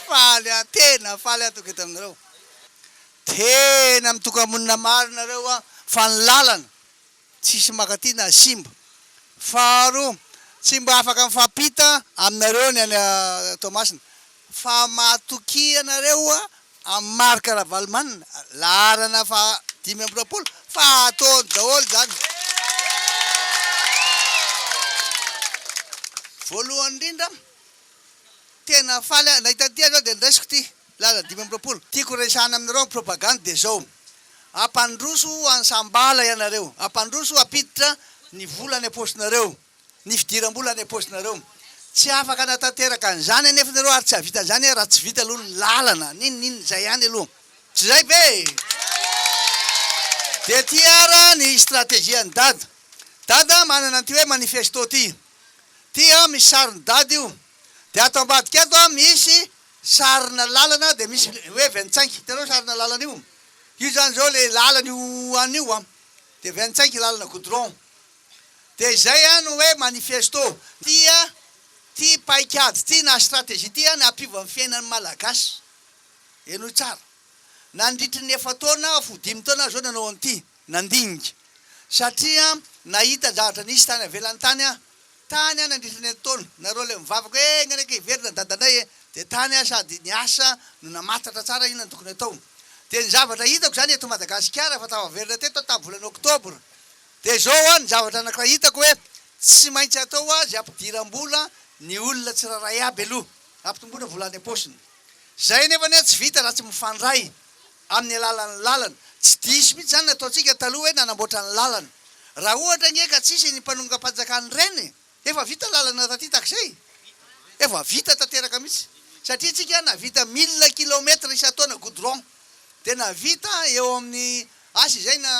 Faly aho tena faly aho toky eto aminareo tena mitokamonina marina nareo a fa ny lalana tsisy makaty na simba faharoa tsy mba afaka mifampita aminareo ny any Toamasina fa matokia nareo a am Marc Ravalomanina laharana faha dimy amby roapolo fa ataony daholo zany voalohany indrindra Tena faly aho nahita an'ity aza aho dia niraisiko ity laza dimy amby roapolo. Tiako resahana aminareo amin'ny propagandy dia izao, hampandroso an'i Sambala ianareo, hampandroso hampiditra ny vola any am-paosinareo, ny fidiram-bola any am-paosinareo. Tsy afaka hanatanteraka an'izany anefa ianareo ary tsy hahavita an'izany raha tsy vita aloha ny lalana, n'inon'inona, izay ihany aloha. Tsy izay ve? Dia ity ary ny strategie an'i Dada. Dada manana an'ity hoe manifesto ity. Ity an misy sarin'i dada io. Dia ato ambadika ato an misy sarina lalana dia misy hoe ventsainq. Hitanao sarina lalana io? Io zany zao le lalan'io an io an. Dia ventsainq lalana goudron. Dia izay an no hoe manifesto. Ity an, ity paikady ity na stratégie ity an hampiova ny fiainan'ny malagasy. Henoy tsara. Nandritry ny efa-taona aho fo dimy taona aho zao nanao an'ity. Nandinika. Satria nahita zavatra nisy tany avelany tany aho. Tany aho nandritra ny erintaona. Nareo ilay mivavaka hoe enga anie ka hiverina ny dadandray e! Dia tany aho sady ny asa no namantatra tsara inona no tokony hatao. Dia ny zavatra hitako izany eto Madagasikara fa tafaverina teto aho tamin'ny volana oktobra. Dia izao an, ny zavatra anankiray hitako hoe tsy maintsy atao azy ampidiram-bola ny olona tsirairay aby aloha. Ampitomboina vola any am-paosiny. Izay anefa anie tsy vita raha tsy mifandray. amin'ny alalan'ny lalana. Tsy diso mihitsy izany ny ataontsika taloha hoe nanamboatra ny lalana. Raha ohatra ange ka tsy hisy ny mpanongam-panjakana ireny e! efa vita lalana taty takizay? efa vita tanteraka mihitsy. Satria tsika nahavita mille kilomètre isan-taona goudron. Dia nahavita eo amin'ny asa izay na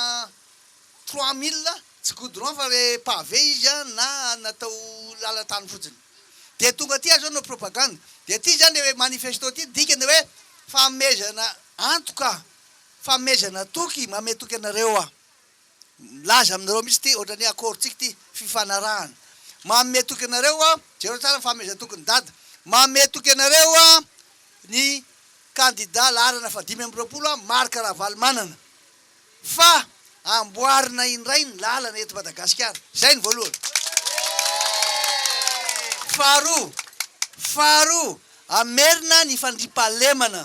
trois mille tsy goudron fa le pavé izy an na natao lalan-tany fotsiny dia tonga aty aza hanao propagande dia ty zany le manifesto ty dikany hoe fanomezana antoka fanomezana toky manome toky anareo aho milaza aminareo mihitsy ty ohatrany hoe accord tsika ty fifanarahana manome toky anareo aho jereo tsara ny fanomezana toky ny dada manome toky anareo aho ny candidat laharana fahadimy amby roapolo aho Marc Ravalomanana Fa amboarina indray ny lalana eto Madagasikara. Izay ny voalohany. Faharoa, faharoa, hamerina ny fandriampahalemana.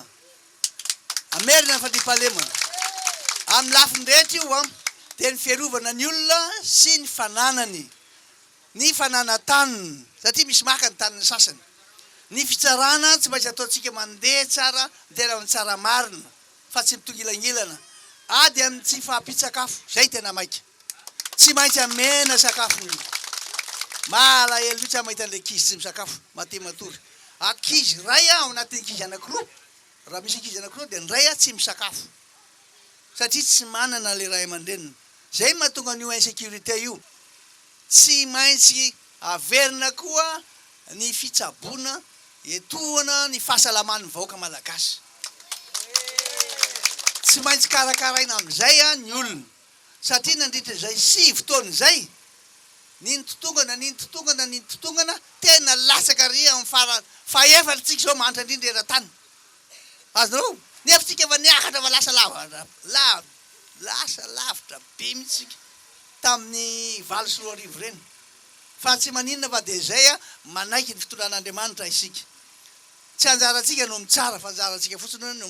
Hamerina ny fandriampahalemana. Amin'ny lafiny rehetra io an, dia ny fiarovana ny olona sy ny fananany, ny fananan-taniny, satria misy maka ny tanin'ny sasany. Ny fitsarana tsy maintsy ataontsika mandeha tsara, mitera amin'ny tsara marina. fa tsy mitongilangilana ady amin'ny tsy fahampian-tsakafo, izay tena maika. Tsy maintsy amena sakafo ny olona. Mahalahelo mihitsy aho mahita an'ilay ankizy tsy misakafo, maty matory. Ankizy iray ao anatin'ny ankizy anankiroa, raha misy ankizy anankiroa dia ny iray tsy misakafo satria tsy manana ilay ray aman-dreniny. Izay no mahatonga an'io insécurité io. Tsy maintsy averina koa Ny fitsaboana etoana ny fahasalaman'ny vahoaka malagasy. Tsy maintsy karakaraina amin'izay ny olona satria nandritra izay sivy taona izay, nintotongana, nintotongana, nintotongana, tena latsaka ary amin'ny farany fahefatr'tsika izao mahantra indrindra eran-tany. Azonareo? Nefa tsika efa niakatra fa lasa lava, lasa lavitra be mihitsy isika tamin'ny valo sy roa arivo ireny. Fa tsy maninona fa dia izay an, manaiky ny fitondran'Andriamanitra isika. Tsy anjarantsika no mitsara fa anjarantsika fotsiny hoe no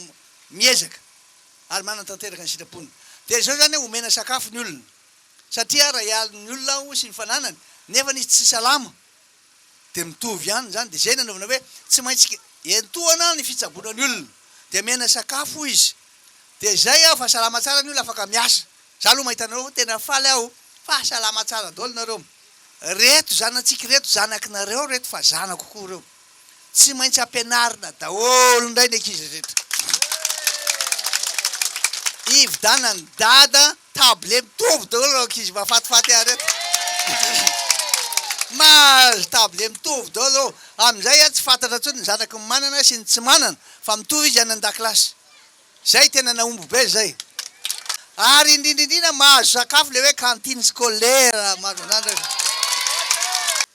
miezaka ary manatanteraka ny sitrapony. Dia izao izany hoe omena sakafo ny olona. Satria raha hialon' ny olona aho sy ny fananany nefa izy tsy salama dia mitovy ihany izany. Dia izay nanaovana hoe tsy maintsy entohana ny fitsaboana ny olona. Dia mena sakafo izy Dia izay aho fa salama tsara ny olona afaka miasa. Za aloha mahita anareo tena faly aho fa salama tsara daholo nareo. Reto zanatsika ireto zanakinareo reto fa zanako koa reo. Tsy maintsy ampianarina daholo indray ny ankizy rehetra. Ividanan'i dada table mitovy daholo reo ankizy mafatifaty ahy reto. Mahazo table mitovy daholo reo. Amin'izay tsy fantatra intsony ny zanaky ny manana sy ny tsy manana fa mitovy izy any an-dakilasy. Zay tena nahomby be zay. Ary indrindrindrindra mahazo sakafo le hoe cantine scolaire mahazo an'zany rehefa.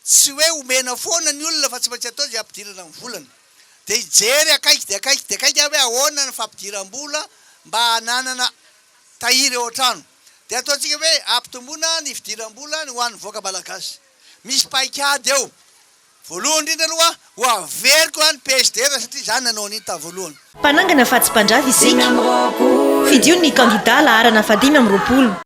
Tsy hoe omena foana ny olona fa tsy maintsy atao zay ampidirana ny volana. De hijery akaiky de akaiky de akaiky aho hoe ahoana ny fampidiram-bola mba hananana tahiry ao an-trano. De ataontsika hoe ampitomboina ny fidiram-bola ny ho an'ny vahoaka malagasy. Misy paikady eo. Voalohany indrindra aloha, ho averiko any PSD raha satria izaho nanao an'iny tamin'ny voalohany. Mpanangana fa tsy mpandrava isika. Fidio ny kandida laharana fahadimy amby roapolo.